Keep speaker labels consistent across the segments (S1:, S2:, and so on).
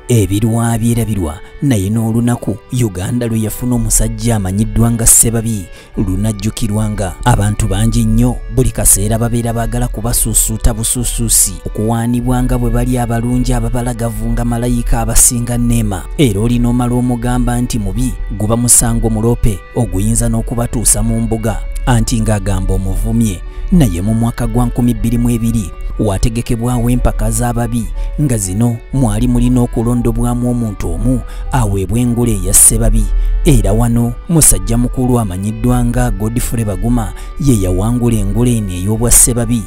S1: ebirwabya erabirwa naye n'olunaku uganda lwe yafuna omusajja amanyiddwa nga ssebabi lunajjukirwa nga abantu bangi nnyo buli kaseera babeera baagala kubasuusuuta busuusuusi okuwaanibwa nga bwe bali abalungi ababalagavu nga malayika abasinga neema era olina omala omugamba nti mubi guba musango muloope oguyinza n'okubatuusa mu mbuga anti ng'agamba omuvumye naye mu mwaka gwa 2022 wategekebwawo empaka z'ababi nga zino mwali mulina okulondobwamu omuntu omu aweebwa engule eya ssebabi era wano musajja mukulu amanyiddwa nga godfrey baguma ye yawangula engule eno ey'obwa ssebabi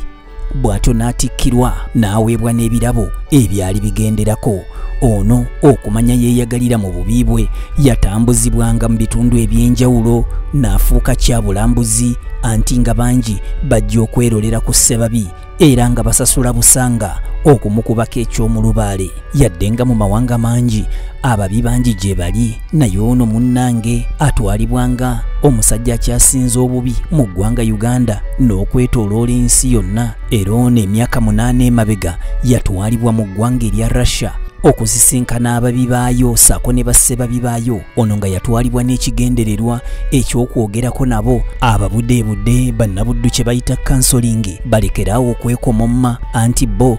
S1: bw'atyo n'atikkirwa n'aweebwa n'ebirabo ebyali bigenderako ono okumanya yeeyagalira mu bubi bwe yatambuzibwanga mu bitundu eby'enjawulo n'afuuka kyabulambuzi anti nga bangi bajja okwerolera ku ssebabi era nga basasula busanga okumukubako eky'omulubaale yadde nga mu mawanga mangi ababi bangi gye bali naye ono munnange atwalibwa nga omusajja akyasinze obubi mu ggwanga uganda n'okwetoloola ensi yonna era ono emyaka munaana emabega yatwalibwa mu ggwanga erya russia okusisinkana ababi baayo saako ne bassebabi baayo ono nga yatwalibwa n'ekigendererwa eky'okwogerako nabo ababudeebude bannabuddu kye bayita kansolingi balekeraawo okwekomomma anti bo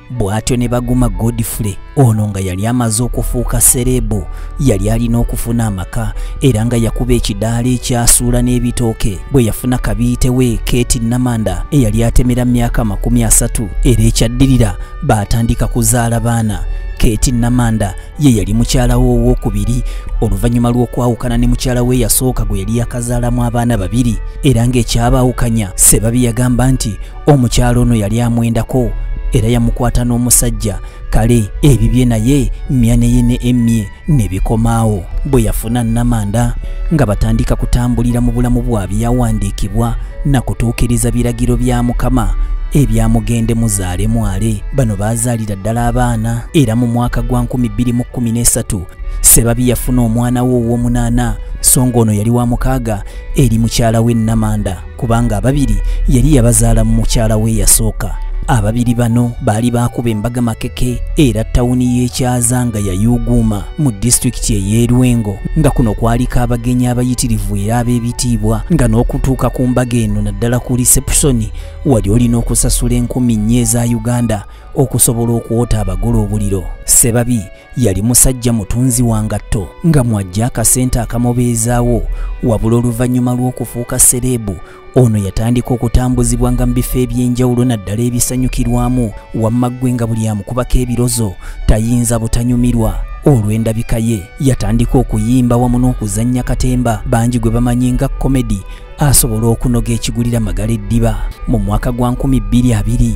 S1: bw'atyo ne baguma godfrey ono nga yali amaze okufuuka serebu yali alina okufuna amaka era nga yakuba ekidaala ekyasuula n'ebitooke bwe yafuna kabiitewe keti namanda eyali atemera mu myaka amakumi asatu era ekyaddirira baatandika kuzaala baana keti namanda ye yali mukyala we owokubiri oluvannyuma lw'okwawukana ne mukyala we yasooka gwe yali yakazaalamu abaana babiri era ng'ekyabaawukanya sebabi yagamba nti omukyalo ono yali amwendako era yamukwata n'omusajja kale ebibye naye myaneye ne emye ne bikomaawo bwe yafuna namanda nga batandika kutambulira mu bulamu bwa byawandiikibwa na kutuukiriza biragiro bya mukama ebyamugende muzaale mwale bano baazaalira ddala abaana era mu mwaka gwa 213 sebabi yafuna omwana we ow'omunaana so ng'ono yali wa mukaaga eri mukyala we namanda kubanga ababiri yali yabazaala mu mukyala we yasooka ababiri bano baali baakuba embaga makeke era tawuni y'ekyaza nga yayuuguuma mu disitulikiti ey'erwengo nga kuno kwaliko abagenyi abayitirivu era ab'ebitiibwa nga n'okutuuka ku mbaga eno naddala ku lisepusoni wali olina okusasula enkumi nnya eza uganda okusobola okwota abagula obuliro sebabi yali musajja mutunzi wa ngatto nga mwajja akasente akamubeezaawo wabula oluvannyuma lw'okufuuka sereebu ono yatandika okutambuzibwa nga mu bifo eby'enjawulo naddala ebisanyukirwamu wamma ggwe nga buli amukubako ebirozo tayinza butanyumirwa olw'endabika ye yatandika okuyimba wamu n'okuzannya katemba bangi gwe bamanyi nga komedi asobola okunoga ekigulira magala eddiba mu mwaka gwa 2020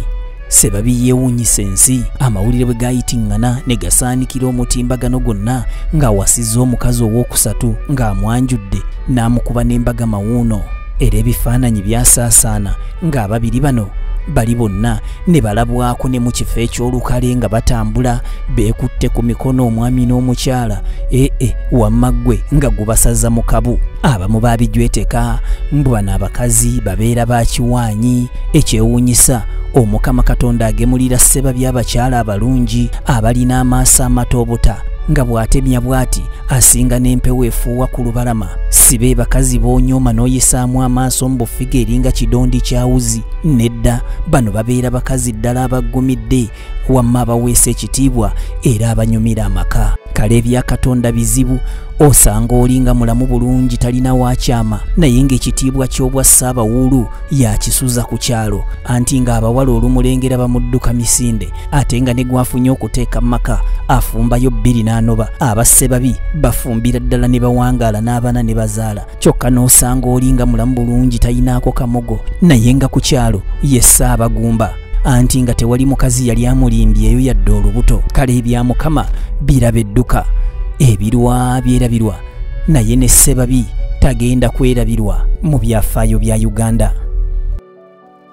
S1: sebabi yeewuunyisa ensi amawulire bwe gayitiŋŋana ne gasaanikira omutimbagano gwonna ng'awasizza omukazi ow'okusatu ng'amwanjudde n'amukuba n'embaga mawuuno era ebifaananyi byasaasaana ng'ababiri bano bali bonna ne balabwako ne mu kifo eky'olukale nga batambula beekutte ku mikono omwami n'omukyala ee eh, eh, wamma ggwe nga gubasaza mu kabu abamu baabijweteka mbu bano abakazi babeera ba kiwaanyi ekyewuunyisa omukama katonda agemulira sseba by'abakyala abalungi abalina amaaso amata obuta nga bw'atemya bw'ati asinga n'empewo efuuwa ku lubalama si be bakazi b'onyooma n'oyisaamu amaaso mu bufiga eringa kidondi kya wuzi nedda bano babeera bakazi ddala abaggumidde wamma abaweesa ekitiibwa era abanyumira amaka kale ebya katonda bizibu osanga olinga mulamu bulungi talina wakyama naye ng'ekitiibwa ky'obwa ssaabawuulu yakisuza ku kyalo anti ng'abawala olumulengera bamudduka misinde ate nga ne gwafunye okuteeka mu maka afumbayo bbiri n'anoba abasse babi bafumbira ddala ne bawangaala n'abaana ne bazaala kyokka n'osanga oli nga mulamu bulungi tayinaako kamogo naye nga ku kyalo ye ssaabagumba anti nga tewali mukazi yali amulimbyeyo yadde olubuto kale ebya mukama biraba edduka ebirwa byerabirwa naye ne ssebabi tagenda kwerabirwa mu byafaayo bya uganda